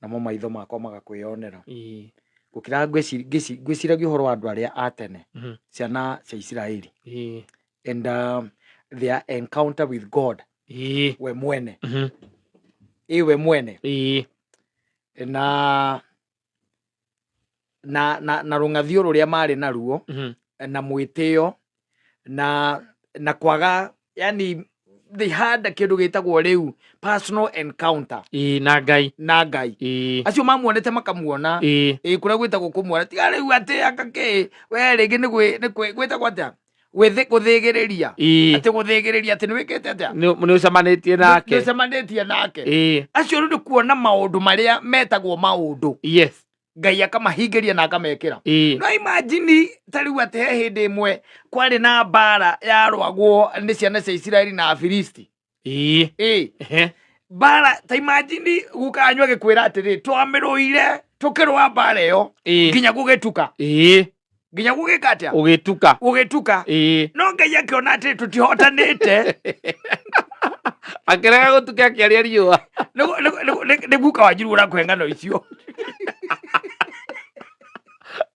namo maitho makwa magakwĩyonera Ĩĩ. gũkĩra ngwĩci- ngĩci- ngwĩciragia ũhoro wa andũ arĩa a tene Mhm. ciana cia isiraeli Ĩĩ. and um, their encounter with god Ĩĩ. we mwene Mhm. ĩ we mwene Ĩĩ. na na na na rũng'athio rũrĩa marĩ naruo Mhm. na mwĩtĩo na na kwaga yani they had kĩndũ gĩtagwo rĩu personal encounter Ĩĩ, na ngai na ngai Ĩĩ, acio mamuonete makamuona ĩĩ. ä kå rä a gwä tagwo kå muona tiga rä u atä aka kä we rä ngä nä gwä tagwo atä gwĩthĩ- gũthĩgĩrĩria ĩĩ atĩ gũthĩgĩrĩria atĩ nĩ wĩkĩte atĩa nĩ nĩ ũcemanĩtie nake nĩũcemanĩtie nake ĩĩ acio rĩu nĩ kuona maũndũ marĩa metagwo maũndũ yes ngai akamahingĩria na akamekĩra ĩĩ no imajini ta rĩu atĩ he hĩndĩ ĩmwe kwarĩ na mbara yarwagwo nĩ ciana cia isiraeli na afilisti ii ĩ ehe mbara ta imajini guka anyu agĩkwĩra atĩrĩ twamĩrũire tũkĩrũa mbara ĩyo ii nginya gũgĩtuka ii nginya gũgĩka atĩa ũgĩtuka gũgĩtuka ii no ngai akĩona atĩ tũtihotanĩte akĩrega gũtuka akĩaria riũa Nĩgu- nĩgu- nĩgu- nĩ- nĩ guka wanjiru ũrakũhe ng'ano icio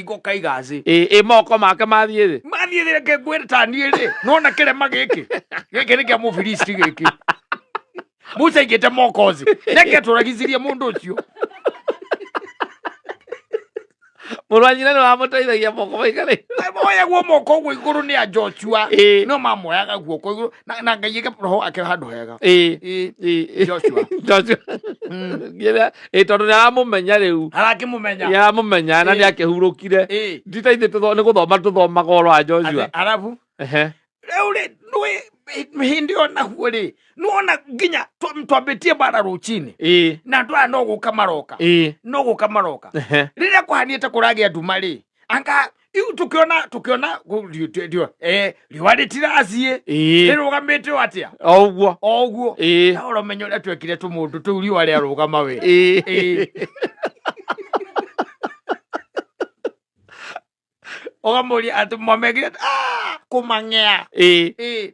kigo kaiga thĩ ĩ ĩ moko make mathiĩ thĩ mathiĩ thĩ reke ngwĩre ta niĩ rĩ nona kĩrema gĩkĩ gĩkĩ nĩ kĩa mũfilisti gĩkĩ musa aigĩte moko thĩ reke tũragicirie mũndũ ũcio mũrũ wa nyina nĩ wamũteithagia moko maigare moyagwo moko ũguo igũrũ nĩ a joshua Ĩ. no mamoyaga guoko igũrũ na- na ngai ĩga roho wake handũ hega ĩ Ĩ, ĩ ĩ joshua Joshua. Ngira- ä tondå nä aramå menya rä u arakĩmũmenya nä aramå menya na Ĩĩ. nä akä hurå kire Ĩĩ. ndita ithe nä gå thoma tå thomaga å rwa joshua Atĩ, arabu Ehe. rĩu rĩ nĩ hĩndĩ ĩyo naguo rĩ nuona nginya twa- twambĩtie bara rũcinĩ Ĩĩ. na andũ aya no gũka maroka Ĩĩ. no gũka maroka Ehe. rĩrĩa kũhanĩte kũragĩa nduma rĩ anga iu tukiona tukiona ku- ri- tu- ri- eh, riũa rĩtirathie ĩĩ rĩrũgamĩte o atĩa o ũguo o ũguo ĩĩ na ũramenyo ũrĩa twekire tũmũndũ tũu riũa rĩarũgama we ĩĩ Ĩĩ. ũkamũria atĩ mwamekire "Ah, kũmang'ea ĩĩ Ĩĩ.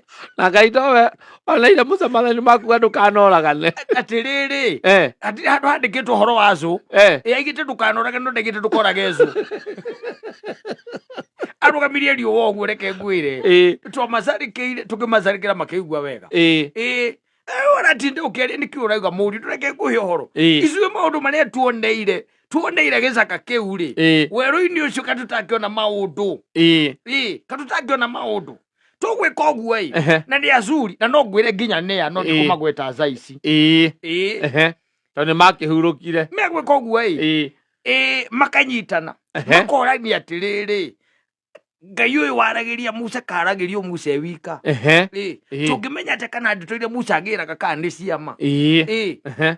na ngai nowe oneire musa mathani maku ga ndũkanoragane atĩrĩrĩ Eh, atĩ handũ handĩkĩtwo ũhoro wa cũ eh. yaigĩte ndũkanorage no ndaigĩte ndũkorage cũ arũgamirie riũa ũguo reke ngwĩre Ĩĩ, twamacarĩkĩire tũkĩmacarĩkĩra makĩigua wega ĩĩ, ĩĩ ũratinde ũkĩaria nĩkĩ ũrauga mũri ndũreke ngũhe ũhoro Ĩĩ. icuĩ maũndũ marĩa tuoneire tuoneire gĩcaka kĩu rĩ Ĩĩ. werũ-inĩ ũcio katũtangĩona maũndũ ĩĩ. ĩĩ katũtangĩona maũndũ tũgwĩka ũguo ĩ Ehe. na nĩ azuri na no ngwĩre nginya nĩa no Ĩĩ. ndikũmagweta thaa ici ĩĩ ĩĩ ehe tondũ nĩ makĩhurũkire megwĩka ũguo ĩ ĩĩ ĩĩ makanyitana ehe makorania atĩrĩrĩ ngai ũyũ waragĩria musa karagĩrio musa e wika ehe ĩĩ Ĩĩ. tũngĩmenya atĩ kana ndeto iria musa angĩraga kana nĩ ciama ĩĩ ĩĩ ehe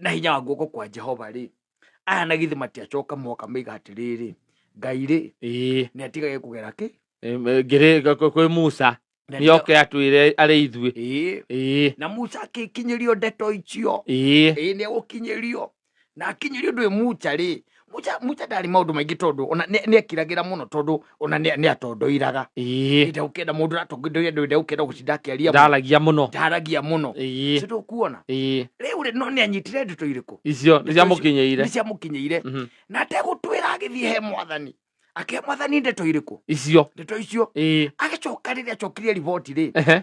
na hinya wa guoko kwa jehova rĩ aya na githĩ matiacoka moka maiga atĩrĩrĩ ngai rĩ Ĩĩ. nĩ atigage kũgera kĩ Em, eh, ngĩrĩ ga- kwĩ- kwĩ musa Nĩ atiga- nĩoke atwĩre arĩ ithuĩ Ĩĩ. Ĩĩ, na musa akĩkinyĩrio ndeto icio ĩĩ. ĩĩ nĩ egũkinyĩrio na akinyĩrio ndwĩ musa rĩ mucha mucha ndarĩ maũndũ maingĩ tondũ ona nĩ- nĩekiragĩra mũno tondũ ona nĩ- nĩatondoiraga ĩĩ ĩndĩ ũkenda mũndũ ũratondoira ndũ ĩndĩ ũkenda gũcinda akĩaria mũno. ndaragia mũno ndaragia mũno ĩĩ Sĩ ndũkuona ĩĩ rĩu rĩ no nĩ anyitire ndeto irĩkũ icio nĩ ciamũkinyĩire nĩciamũkinyĩire Mhm. na ategũtwĩra agĩthiĩ he mwathani akĩhe mwathani ndeto irĩkũ icio ndeto icio ĩĩ agĩcoka rĩrĩa acokire riboti rĩ ehe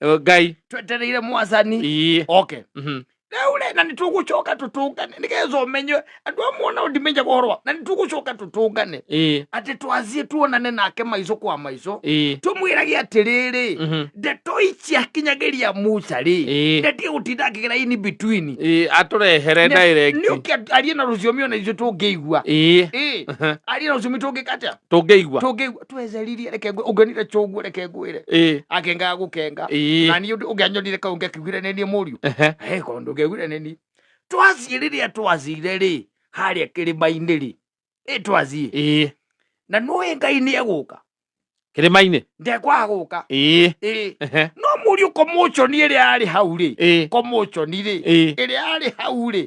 Eh, ngai twetereire mwathani ii oke mhm. rĩu rĩ na nĩ tũgũcoka tũtũngane nĩgetha ũmenywe andũ amwe ona ũndimenya ũhoro na nĩ tũgũcoka tũtũngane ii atĩ twathiĩ tuonane nake maico kwa maico ii tũmwĩrage atĩrĩrĩ mhm. ndeto ici akinyagĩria musa rĩ ii ndetie gũtinda akĩgera in between ii atũrehere direct nĩ ũkĩ arie na rũthiomi ona ithuĩ tũngĩigua ii ĩ arie na rũthiomi tũngĩka atĩa tũngĩigua tũngĩigua tweceririe reke ngwĩ- ũngĩonire cũguo reke ngwĩre ĩ akengaga gũkenga Ĩĩ. na niĩ ũndũ- ũngĩanyonire kau ngĩakĩugire nĩ niĩ mũriũ ehe He korwo ndũngĩaugire nĩ niĩ twathiĩ rĩrĩa twacire rĩ harĩa kĩrĩma-inĩ rĩ ĩ twathiĩ ĩ na nũĩ ngai nĩ egũka kĩrĩma-inĩ ndekwaga gũka ĩ ĩ ehe no mũriũ komochoni ĩrĩa yarĩ hau rĩ ĩ komochoni rĩ ĩ ĩrĩa yarĩ hau rĩ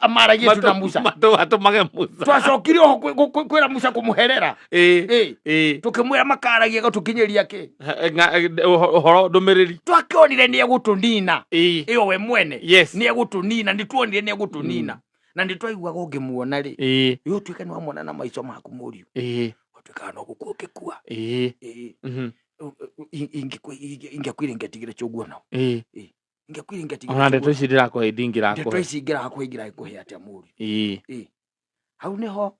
amara yesu na musa matũmage musa twacokire oho kwĩ- kwĩ- kwĩ- kwĩra musa kũmũherera Ĩĩ, Ĩĩ. ĩĩ. tũkĩmwĩra makaragia gũtũkinyĩria kĩ Nga- eh, ũho- ũhoro ndũmĩrĩri twakĩonire nĩ egũtũnina Ĩĩ. ĩyo we mwene Yes. nĩ egũtũnina nĩ tuonire nĩ egũtũnina na nĩ twaiguaga ũngĩmuona rĩ Ĩĩ, ĩ ũtuĩke nĩ wamwona na maico maku mũriũ ĩĩ, ũtuĩkaga no gũkua ũngĩkua ĩĩ, Ĩĩ. mhm, ingĩkwire ingĩatigire cũguo nao ĩĩ. ingĩkwiringatinga ona ndeto ici ndĩrakũhe ndeto ndingĩrakũhe ici ingĩraha kũhingĩra ĩkũhe atĩa mũri ii hau nĩho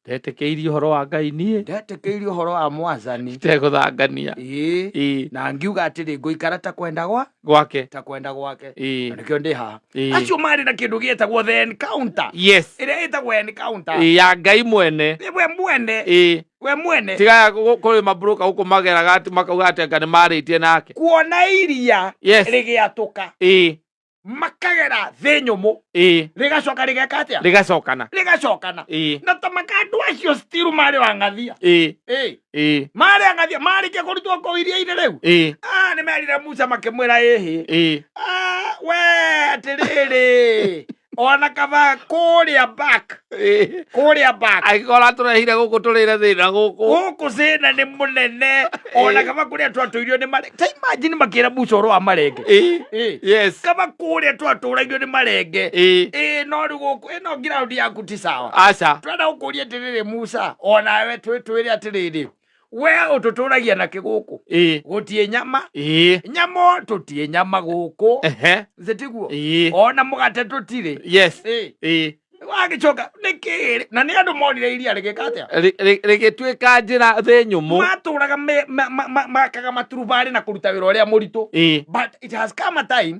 ndetĩkĩirie ũhoro wa ngai niĩ ndetĩkĩirie ũhoro wa mwathani itegũthangania ĩĩ ii na ngiuga atĩrĩ ngũikara ta kwenda gwa gwake ta kwenda gwake ii na nĩkĩo ndĩ haha ii acio marĩ na kĩndũ gĩtagwo the encounter yes ĩrĩa ĩtagwo encounter ii ya ngai mwene we mwene ii we mwene tiga kuri mabroka guku mageraga ati makauga ati anga ni maritie nake kuona iria yes rigiatuka ii makagera thĩ nyũmũ ii rĩgacoka rĩgeka atĩa rigacokana rĩgacokana ii na ta makandũ acio stiru marĩ wang'athia ii Ĩ, ii marĩ ang'athia marĩkia kũrutwo kũu iria-inĩ rĩu ii Ah, nĩ merire musa makĩmwĩra ĩhĩ ii Ah, we atĩrĩrĩ ona kaba kuria back Eh, kuria back agĩkorwo atũrehire gũkũ tũrĩre thĩna gũkũ gũkũ cĩna nĩ mũnene ona Eh. kaba kũrĩa twatũirio nĩ marenge ta imagine makĩra musa ũrũ wa marenge Eh, Eh. yes kaba kũrĩa twatũragio nĩ marenge Eh, ĩ no rĩ gũkũ ĩno ngiraundi yaku ti sawa aca twenda gũkũria atĩrĩrĩ musa onawe twĩtwĩre atĩrĩrĩ we ũtũtũragia na kĩgũkũ ĩĩ gũtiĩ nyama ĩĩ nyama tũtiĩ nyama gũkũ ehe zitiguo ĩĩ ona mũgate tũtirĩ yes Ĩ, ĩĩ wagĩcoka nĩkĩ na nĩ andũ monire iria rĩgĩka atĩa Rĩ- rĩ- rĩgĩtuĩka njĩra thĩ nyũmũ matũraga me- ma- ma- ma- makaga maturubarĩ na kũruta wĩra ũrĩa mũritũ ĩĩ but it has come a time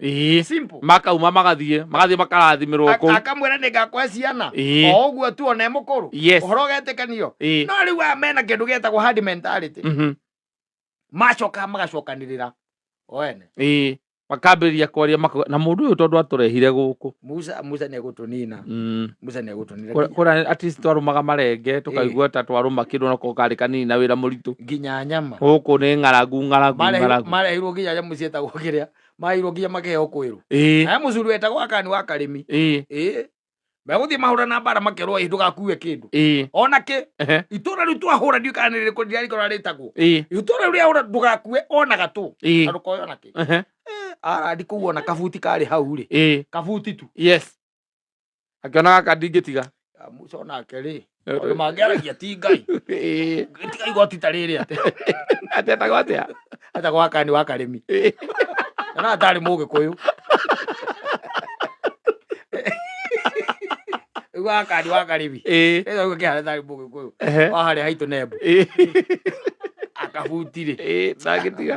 ĩĩ simple makauma magathiĩ magathiĩ makarathimĩrwo Ak- kũu akamwĩra nĩ ngakũhe ciana Ĩĩ. o ũguo tu one mũkũrũ Yes. ũhoro ũgetĩkanio Ĩĩ. no rĩu aya mena kĩndũ gĩtagwo hard mentality Mhm. macoka magacokanĩrĩra o ene ĩĩ makambĩrĩria kwaria mako- na mũndũ ũyũ tondũ atũrehire gũkũ musa musa nĩ egũtũnina Mm. musa nĩ egũtũnina Kũrĩa- nginya- kũrĩa at least twarũmaga marenge tũkaigua ta twarũma kĩndũ nako karĩ kanini na wĩra mũritũ gĩnya nyama gũkũ nĩ ng'arangu ng'arangu Marehi- ng'arangu marehirwo nginya nyamũ ciĩtagwo kĩrĩa mairwo nginya makĩheo kwĩrũ ĩĩ naye mũcuri wetagwo akani wa karĩmi ĩĩ ĩĩ megũthiĩ mahũra na mbara makerwo ĩ ndũgakue kĩndũ ĩĩ ona kĩ ehe, itũra rĩu twahũra ndiũ kana nĩ rĩkũ ndirarikana ũrĩa rĩtagwo ĩĩ itũra rĩu rĩahũra ndũgakue ona gatũ ĩĩ na ndũkoya ona kĩ ehe, arandi kũu ona kabuti karĩ hau rĩ ĩĩ kabuti tu yes akĩona gaka ndingĩtiga Ah, musa onake rĩ maũndũ mangĩaragia ti ngai Ĩĩ, tiga igoti ta rĩrĩ atĩ atetagwo atĩa ata gwaka nĩ wakarĩmi na atarĩ mũgĩkũyũ rĩu gaka nĩ wakarĩmi Ĩĩ, rĩu gũkĩhana atarĩ mũgĩkũyũ ehe, waharĩ haitũ nembo ĩĩ, akabutirĩ ĩĩ, ndangĩtiga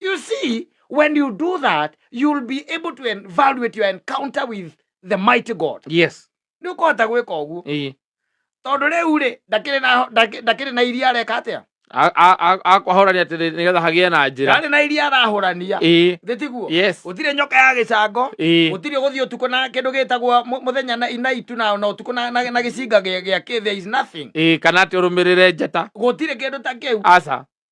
You see, when you do that, you'll be able to evaluate your encounter with the mighty God. Yes. Nĩ ũkũhota gwĩka ũguo. Ĩĩ. Tondũ rĩu rĩ, ndakĩrĩ na ndakĩ- ndakĩrĩ na iria areka atĩa? Akwahorania atĩ nĩgetha hagĩe na njĩra. Ndarĩ na iria arahũrania. Ĩĩ. Thĩ tiguo? Yes. Gũtirĩ nyoka ya gĩcango. Ĩĩ. Gũtirĩ gũthiĩ ũtukũ na kĩndũ gĩtagwo mũ- mũthenya na na itu na na ũtukũ na na na gĩcinga gĩa gĩa kĩ there is nothing. Ĩĩ kana atĩ ũrũmĩrĩre njata. Gũtirĩ kĩndũ ta kĩu. Aca.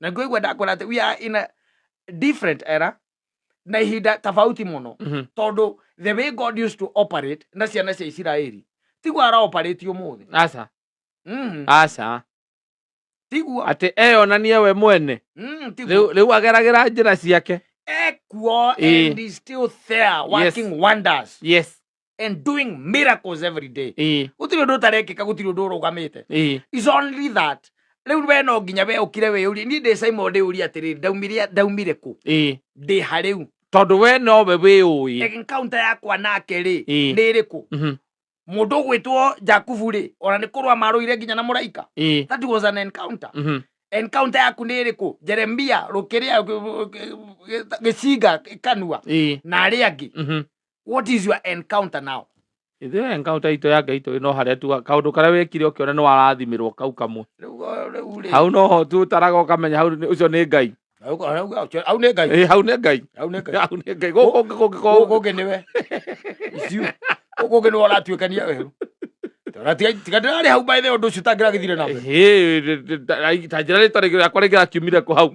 na ngũigua ndakwĩra atĩ we are in a different era na ihinda tofauti mũno Mhm. tondũ the way god used to operate na ciana cia isiraeli tiguo araoperate ũmũthĩ aca mm. aca tiguo atä eyonanie we mwene mm, tiguo rä u ageragä njä ra ciake ekuo Ĩĩ. and is still there working wonders yes and doing miracles every day ĩĩ gũtirĩ ũndũ ũtarekĩka gũtirĩ ũndũ ũrũgamĩte ĩĩ is only that rĩu we no nginya we ũkire wĩyũrie niĩ ndĩ simon ndĩyũrie atĩrĩrĩ ndaumire ndaumire kũ ĩĩ ndĩ ha rĩu tondũ we nowe wĩ ũĩ encounter yakwa nake rĩ Ĩĩ. nĩ ĩrĩkũ Mhm. mũndũ ũgwĩtwo jakubu rĩ ona nĩ kũrũa marũire nginya na mũraika ĩĩ that was an encounter Mhm. encounter yaku nĩ ĩrĩkũ jeremia rũkĩrĩa gĩcinga kanua ĩĩ na arĩa angĩ Mhm. what is your encounter now ithuĩ encounter itũ ya ngai tũrĩ no harĩa tuga kaũndũ karĩa wekire ũkĩona nĩ warathimĩrwo kau kamwe Rĩu, uh, rĩu rĩ hau no ho tutaraga ũkamenya hau nĩ- ũcio nĩ ngai Rĩu, rĩu, rĩu, au nĩ ngai Ĩ, hau nĩ ngai au nĩ ngai hau nĩ ngai gũkũ Gũkũ kũngĩkorwo kũngĩ nĩwe Icio. Gũkũ kũngĩ nĩwe ũratuĩkania werũ Tara, tiga tiga ndĩrarĩ hau mbaithe ũndũ ũcio ũtangĩragĩthire na mbere Ĩhĩ, rĩ- rĩ- ta- ta njĩra rĩtarĩ rĩakwa rĩngĩrakiumire kũ hau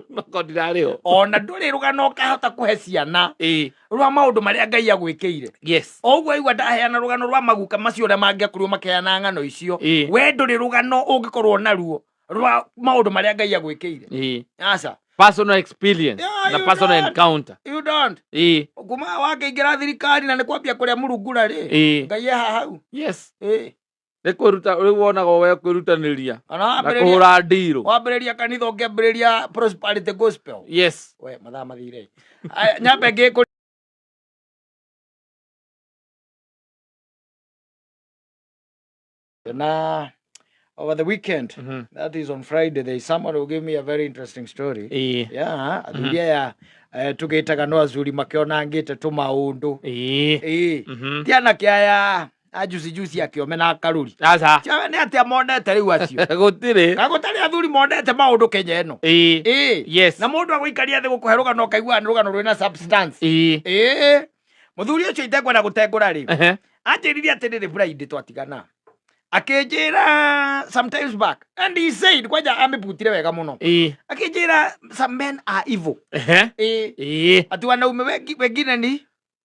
noko ndirarĩ ho ona ndũrĩ rũgano ũkahota kũhe ciana Ĩ, rwa maundu maria ngai agwikire yes o uguo aigua ndaheana rugano rwa maguka macio uria mangiakorirwo makeana ng'ano icio Ĩĩ. we nduri rugano ungikorwo naruo rwa maundu maria ngai agwikire Ĩĩ. aca personal experience Yeah, na you personal don't. encounter you don't Ĩĩ. kuma wakĩingĩra thirikari na nĩ kwambia kũrĩa murungura rĩ Ĩĩ. ngai eha hau yes Ĩĩ. nä kwä ruta rä u wonaga we kwä rutanä ria kana na kå hå wambĩrĩria ra ndirå wambĩrĩria kanitha ũkĩambĩrĩria prosperity gospel yes we mathaa mathire Aya, nyambe ngĩkũ na over the weekend Mhm. that is on friday there is someone who gave me a very interesting story Ĩĩ. yeah athuri aya eh, tũgĩtaga no athuri makĩonangĩte tũmaũndũ Ĩĩ. Ĩĩ. Mhm. ti anake aya na juice juice ya kiome na karuri aca Tia- nĩ atĩa monete rĩu acio gå tirä na gũtarĩ athuri monete maũndũ kenya ĩno Ĩĩ. Yes. na mũndũ agũikaria thĩ gũkũhe rũgano ũkaigua nĩ rũgano rwĩna substance Ĩĩ. mũthuri ũcio itekwenda gũtengũra rĩ anjĩririe atĩ rĩrĩ buraindi twatigana akĩnjĩra sometimes back and he said kwanja amĩbutire wega mũno akĩnjĩra some men are evil Ĩĩ. ati wanaume wengi- wengine ni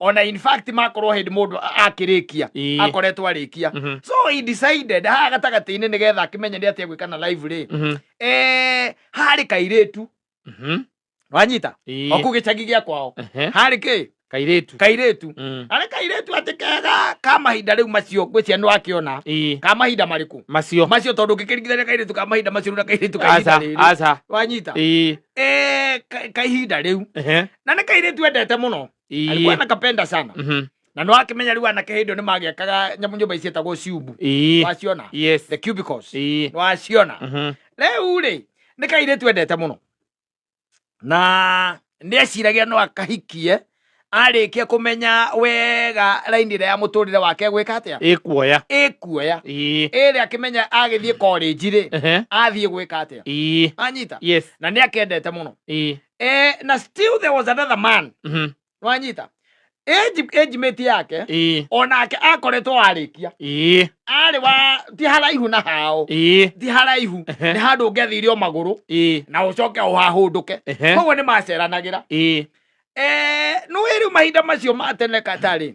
ona in fact makorwo hĩndĩ mũndũ a- akĩrĩkia Ĩĩ. akoretwo arĩkia Mhm. so he decided haha gatagatĩ-inĩ nĩ getha akĩmenye nĩ atĩa gwĩka na live rĩ Mhm. eh, harĩ kairĩtu Mhm. wanyita Ĩĩ. oku gĩcagi gĩa kwao Ehe. harĩ kĩ kairĩtu kairĩtu Mm. arĩ kairĩtu atĩ kega ka mahinda rĩu macio ngwĩcia nĩ wakĩona Ĩĩ. ka mahinda marĩkũ macio macio tondũ ũngĩkĩringithania kairĩtu ka mahinda macio na kairĩtu ka ihinda aca rĩrĩ aca wanyita Ĩĩ. Eh, ka- ka ihinda rĩu Ehe. na nä kairä tu endete må no Ii. alikuwa nakapenda sana Mhm. na no akimenya riu anake hä ndä nä magekaga nyamå nyå mba iciätagwo ciumbu Ii. waciona Yes. the cubicles Ii. waciona Mhm. rĩu rĩ nĩ kairĩtu endete mũno na nĩ eciragia no akahikie arĩkia kũmenya wega raini ĩrĩa ya mũtũrĩre wake gwĩka atĩa Ĩ kuoya. ĩkuoya Ii. ĩrĩ akĩmenya agĩthiĩ korĩnji rĩ Ehe. athiĩ gwĩka atĩa Ii. anyita Yes. na nĩ akendete mũno Ii. eh, na still there was another man Mhm. wanyita ejimĩti yake Ii. onake akoretwo warĩkia Ii. arĩ wa ti haraihu na hao Ii. ti haraihu Ehe. nĩ handũ ũngĩathirio magũrũ Ii. na ũcoke ũhahũndũke Ehe. koguo nĩ maceranagĩra Ii. Eh, nĩ wĩ rĩu mahinda macio ma tene katarĩ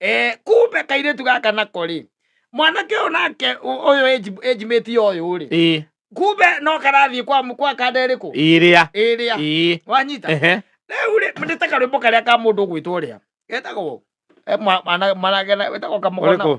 Eh, kumbe kairĩtu gaka nako rĩ mwanake ũyũ nake ũ- ũyũ age- age mate ya ũyũ rĩ ĩ kumbe no karathiĩ kwa mũ- kwa kanda ĩrĩkũ ĩrĩa ĩrĩa ĩ wanyita ehe rĩu rĩ nĩ ta karwĩmbo karĩa ka mũndũ ũgwĩtwo ũrĩa getagwo eh, mwa- mwana- mwanake na- wĩtagwo kamũgona ũrĩkũ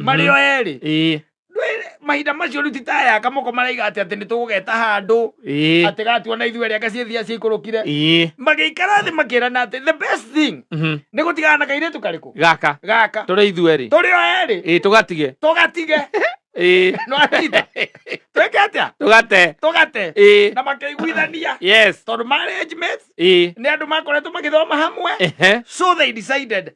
marĩ o erĩ ĩĩ Ndwĩ- mahinda macio rĩu ti ta aya kamoko maraiga atĩ atĩ nĩ tũgũgeta handũ ĩĩ atĩ gatua na ithuerĩ anga ciĩthia ciikũrũkire ĩĩ magĩikara thĩ makĩrana atĩ the best thing mhm, nĩ gũtigana na kairĩtu karĩkũ gaka gaka tũrĩ ithuerĩ tũrĩ o erĩ ĩĩ tũgatige tũgatige ĩĩ no atita twĩke atĩa tũgate tũgate ĩĩ na makĩiguithania yes tondũ marriage mates ĩĩ nĩ andũ makoretwo magĩthoma hamwe ehe so they decided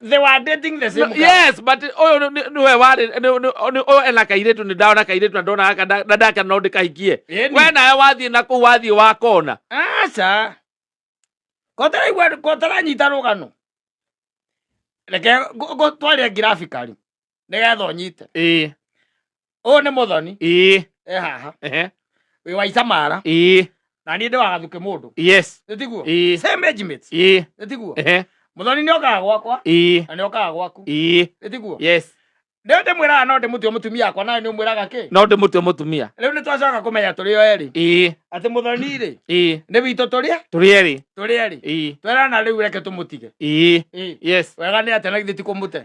they were dating the same No, girl. yes but ũyũ nĩ- nĩ- nĩwe warĩ nĩ- nĩ- nĩ- ũyũ ena kairĩtu nĩ ndona kairĩtu na ndona gaka nda- na ndake no ndĩkahikie Ĩni. we nawe wathiĩ na kũu wathiĩ wakona aca kotaraigua kotaranyita rũgano reke ngo- ngo- twaria ngirafikari nĩgetha ũnyite ĩĩ ũyũ nĩ mũthoni ĩĩ e haha ehe wĩ wa icamara ĩĩ na niĩ ndĩ wa gathuke mũndũ yes nĩ tiguo ĩĩ same age mates ĩĩ nĩ tiguo ehe mũthoni nĩ okaga gwakwa ĩĩ na nĩ okaga gwaku ĩĩ nĩ tiguo yes rĩu ndĩmwĩraga no ndĩmũtue mũtumia wakwa nawe nĩ ũmwĩraga kĩ no ndĩmũtue mũtumia rĩu nĩ twacoka kũmenya tũrĩ o erĩ ĩĩ atĩ mũthoni-rĩ ĩĩ nĩ witũ tũrĩ tũrĩ erĩ tũrĩ erĩ ĩĩ twerana rĩu reke tũmũtige ĩĩ ĩĩ yes wega nĩ atĩ na githĩ ti kũmũte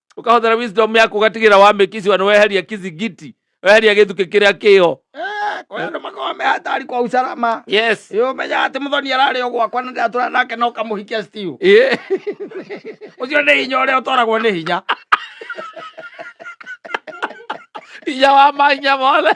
ukahũthĩra wisdom yaku ũgatigĩra wa mĩkisi wanĩ weheria kizingiti weheria gĩthukĩ kĩrĩa kĩho Eh, kwa hiyo ndo makao mehatari kwa usalama yes Ĩĩ, ũmenyaga atĩ mũthoni ararĩ o gwakwa na ndatũra nake no kamũhikia stiu yeah. ũcio nĩ hinya ũrĩa ũtwaragwo nĩ hinya hinya wa mahinya mothe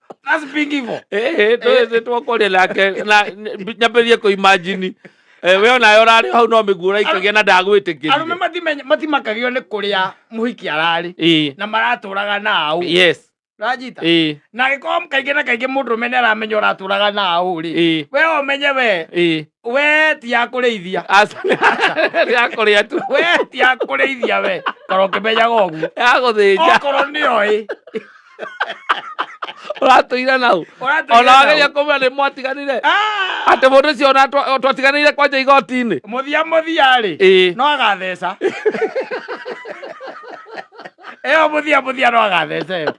That's big hivo. Eh, eh, tũ- tũ- twakoria nake na n- nyambĩrĩrie kũ imagine Eh, we onayo ũrarĩ hau no mĩguo ũraikagia na ndagwĩtĩkĩria Arũme matimenya- matimakagio nĩ kũrĩa mũhiki ararĩ Ĩĩ, na maratũraga nao yes rajita ĩĩ, na agĩkorwo kaingĩ na kaingĩ mũndũ ũmene aramenya ũratũraga nao rĩ ĩĩ, we ũmenye we ĩĩ. we ti ya kũrĩithia Aca- yakũrĩa tu we ti ya kũrĩithia we korwo ũkĩmenyaga ũguo yagũthĩnja okorwo nĩoĩ ũratũira nau Ũratũire ona nau. wageria kũmwĩra nĩ mwatiganire Ah! atĩ mũndũ ũcio ona twa- twatiganĩire kwanja igoti-inĩ muthia muthia rĩ Ĩĩ. no agatheca ĩyo muthia muthia no agatheca ĩyo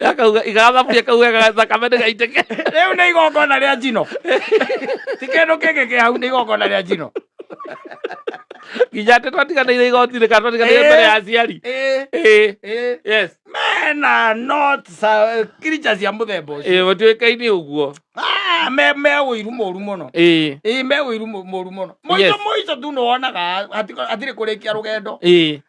Akauga igaga thaburia kau wega thakame ndĩgaitĩke. rĩu nĩ igongona rĩa njino ti kĩndũ kĩngĩ kĩ hau nĩ igongona rĩa njino Nginya atĩ twatiganĩire igoti-inĩ kana twatiganĩire Ĩĩ. mbere ya aciari. Ĩĩ, Ĩĩ. ĩĩ. Yes. mena not sa- creature cia mũthemba ũcio Ĩĩ, matuĩkaine ũguo. Ah, me me ũiru mũru mũno Ĩĩ. ĩĩ me ũiru mũ- mũru mũno mũico Yes. mũico tu nĩwonaga hatirĩ kũrĩkia rũgendo Ĩĩ.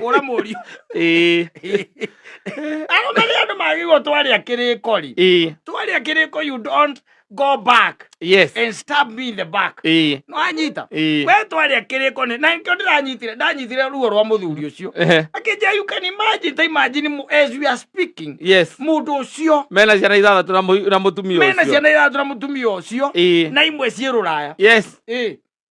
kũra mũriũ arũme nĩ andũ magĩrĩirwo twarĩa kĩrĩko rĩ twarĩa kĩrĩko you don't go back yes and stab me in the back eh no anyita eh we twaria kiriko ni na nkyo ndiranyitire ndanyitire ruo rwa muthuri ucio akinja you can imagine ta imagine as we are speaking yes mundu ucio mena ciana ithathatu na na mutumia ucio mena ciana ithathatu na mutumia ucio na imwe ciĩ ruraya yes eh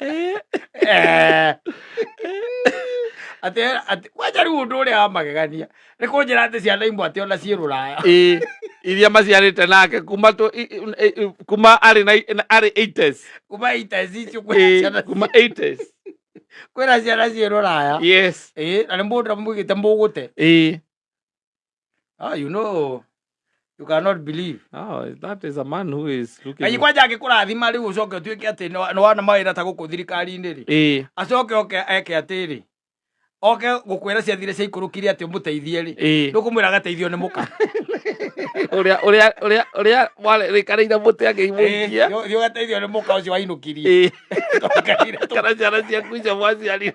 Eh. Atĩ atĩ kwanja rĩu ũndũ ũrĩa wa magegania nĩ kũnjĩra atĩ ciana imwe atĩ ona ciĩ rũraya Ĩ, iria maciarĩte nake kuma tũ- i- i- i- i- kuma arĩ na na arĩ 80s kuma iteci icio kwĩna Ĩ, ciana kuma 80s kwĩna ciana ciĩ rũraya yes Ĩ, na nĩ mũndũ amwĩgĩte mũgũte Ĩ, Ah, you know, you cannot believe. Oh, that is a man who is looking. Kanyi kwanja angĩkũrathima rĩu ũcoke ũtuĩke atĩ nĩ wana mawĩra ta gũkũ thirikari-inĩ rĩ. Ĩĩ. Acoke oke eke atĩrĩ. Oke gũkwĩra ciathire cia ikũrũkire atĩ ũmũteithie rĩ. Ĩĩ. Ndũkũmwĩra agateithio nĩ mũka. Ũrĩa ũrĩa ũrĩa ũrĩa warĩkanĩire mũtĩ akĩimũkia. Thiĩ ũgateithio nĩ mũka ũcio wainũkirie. Ĩĩ. Kana ciana ciaku icio mwaciarire.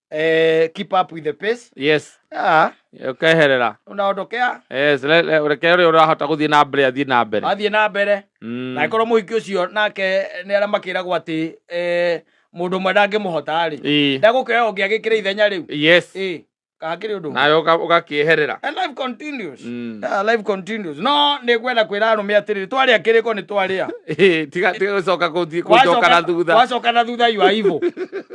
eh, keep up with the pace yes ah, ukeherera unaondokea yes le- le- reke ũrĩa ũrahota gũthiĩ na mbere athiĩ na mbere athiĩ na mbere Mm. na korwo mũhiki ũcio nake nĩ arĩa makĩragwo atĩ eh, mũndũ ũmwe ndangĩmũhota rĩ Ii. ndagũkĩoya ũngĩ agĩkĩra ithenya rĩu yes Ĩ, kahakĩrĩ ũndũ ũngĩ. nawe ũka- ũgakĩeherera And life continues. Mm. Yeah, life continues. no nĩ ngwenda kwĩra arũme atĩrĩrĩ twarĩa kĩrĩko nĩ twarĩa Ĩ, tiga tiga gũcoka gũthiĩ- gũcoka na thutha wacoka na thutha you are evil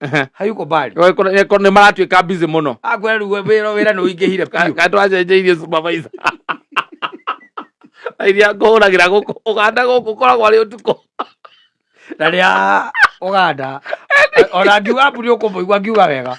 Ehe. hayuko mbali Kwa- kwa- eh, kwa- nĩ maratuĩka busy mũno akweruwe wĩra wĩra nĩ ũingĩhire Ka- biũ kandũ acenjeirie supervisor iria ngũhũragĩra gũkũ ũganda gũkũ koragwo arĩ ũtukũ na rĩa ũganda ona ngiuga mburi ũkũmũigua ngiuga wega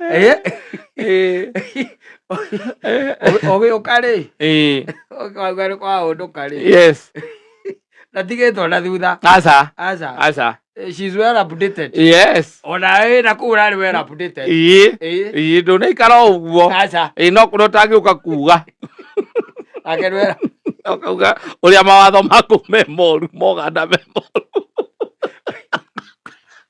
Eh? Eh. ũgĩũka rĩ Eh. ũkauga nĩ kwahũndũka rĩ yes na tigĩtwo na thutha asa aca asa Eh, she's well updated yes ona wĩ na kũu ũrarĩ well updated ii Eh, ii ndũnaikara o ũguo aca ĩ no kũrĩa ũtangĩũka kuga nake nĩ well ũkauga ũrĩa mawatho maku me moru moganda me moru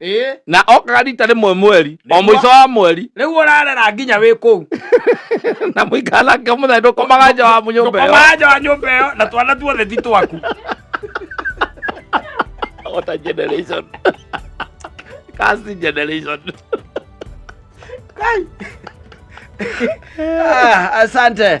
ĩĩ na okaga rita rĩmwe mweri o Nĩguo. mũico wa mweri rĩu ũrarera nginya wĩ kũu na mũikara nake mũthenya ndũkomaga nja wa nyũmba ĩyo ndũkomaga nja wa nyũmba ĩyo na twana tuothe ti twaku What a generation. Kasi generation. Ah, asante